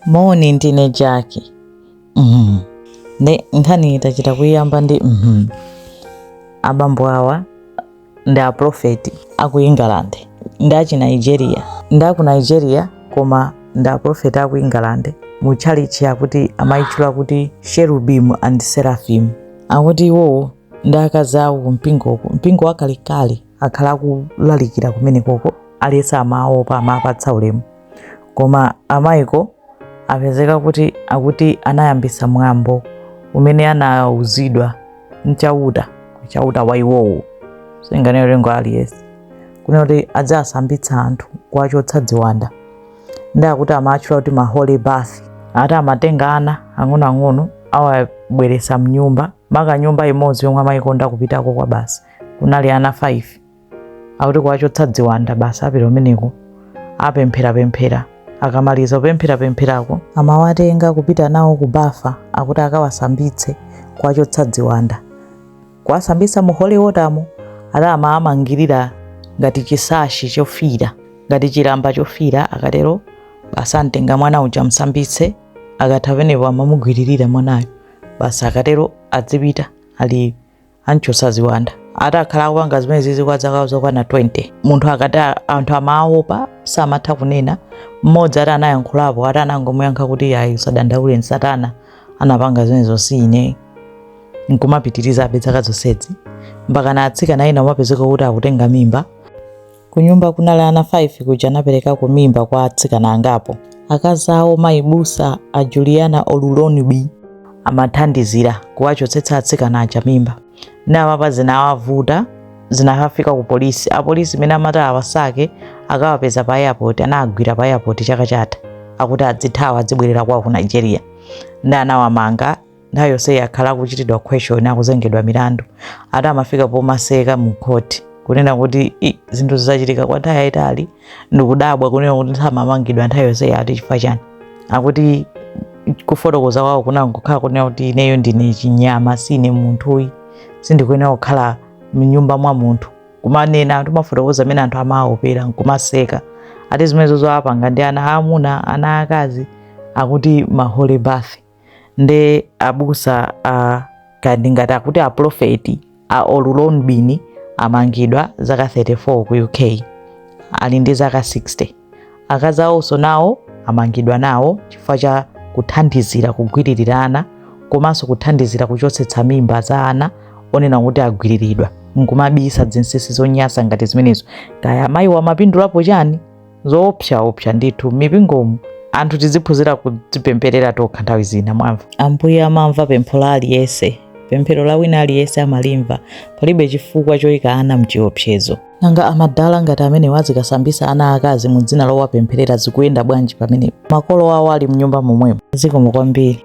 Moni ndine Jaki. Mhm. Ndi nkhani yochita kuyamba ndi mhm. Abambo awa ndi a prophet a ku England ndi a chi Nigeria. Ndi a ku Nigeria koma ndi a prophet a ku England mu chalichi akuti amayitchula kuti Cherubim and Seraphim. Akuti iwowo ndi akazi awo ku mpingoku, mpingo wakalekale. akhala akulalikira kumenekoko aliyense amaopa amapatsa ulemu koma amayiko apezeka kuti akuti anayambitsa mwambo umene anauzidwa mchauta mchauta wa iwowo singanene lengo aliyense kune kuti adzasambitsa anthu kuwachotsa dziwanda ndi akuti amatchula kuti ma holy bath ati amatenga ana ang'onoang'ono awabweretsa mnyumba maka nyumba imodzi yomwe amayikonda kupitako kwa basi kunali ana 5 akuti kuwachotsa dziwanda basi apita umeneko apempherapemphera akamaliza kupempherapempherako amawatenga kupita nawo ku bafa akuti akawasambitse kuwachotsa dziwanda kuwasambitsa mu holy watermo ati amawamangirira ngati chisashi chofira ngati chilamba chofira akatero basi amtenga mwana uja msambitse akatha penepo amamugwiririra mwanayo basi akatero adzipita ali amchotsa ziwanda ati akhala akupanga zimenezizi kwa zaka zokwana 20 munthu akati a- anthu amaopa samatha kunena mmodzi ati anayankhulapo ati anangomuyankha kuti ayi usadandaule ndi satana anapanga zimenezo si ine nkumapitiriza abe zaka zonsezi mpakana atsikana ena umapezeka kuti akutenga mimba Kunyumba kunali ana 5 kuja anaperekako mimba kwa atsikana angapo. Akazi awo mayi busa a Juliana Oluronbi amathandizira kuwachotsetsa atsikana aja mimba. Ndiye apapa zinawavuta zinakafika ku polisi. Apolisi mmene amati awasake akawapeza pa airport anagwira pa airport chaka chatha akuti adzithawa adzibwerera kwawo ku Nigeria. Ndi anawamanga nthawi yonseyi akhala akuchitidwa question akuzengedwa milandu ati amafika pomaseka mu court kunena kuti "I, zinthu zachitika kwa nthawi yayitali ndikudabwa kunena kuti samamangidwa nthawi yonseyi ati chifukwa chani akuti kufotokoza kwawo kunangokhala kunena kuti ineyo ndine chinyama sine munthu ayi sindikuyenera kukhala mnyumba mwa munthu kumanena anthu mafotokoza amene anthu amaopera nkumaseka ati zimenezo zoapanga ndi ana aamuna ana aakazi akuti ma holy bath nde abusa aka ndingati akuti aprofeti a oluronbi amangidwa zaka 34 ku uk ali ndi zaka 60 akazi awonso nawo amangidwa nawo chifukwa cha kuthandizira kugwiririra ana komanso kuthandizira kuchotsetsa mimba za ana onena kuti agwiriridwa nkumabisa zinsinsi zonyasa ngati zimenezo kaya amayiwa amapindulapo chani zoopsaopsa ndithu m'mipingomu anthu tiziphunzira kudzipempherera tokha nthawi zina mwamva ambuye amamva pempho la aliyense pemphero la wina aliyense amalimva palibe chifukwa choyika ana mchiopsezo nanga amadala ngati amenewa azikasambisa ana akazi mu dzina lowapempherera zikuyenda bwanji pamene makolo awo ali mnyumba momwemo zikomo kwambiri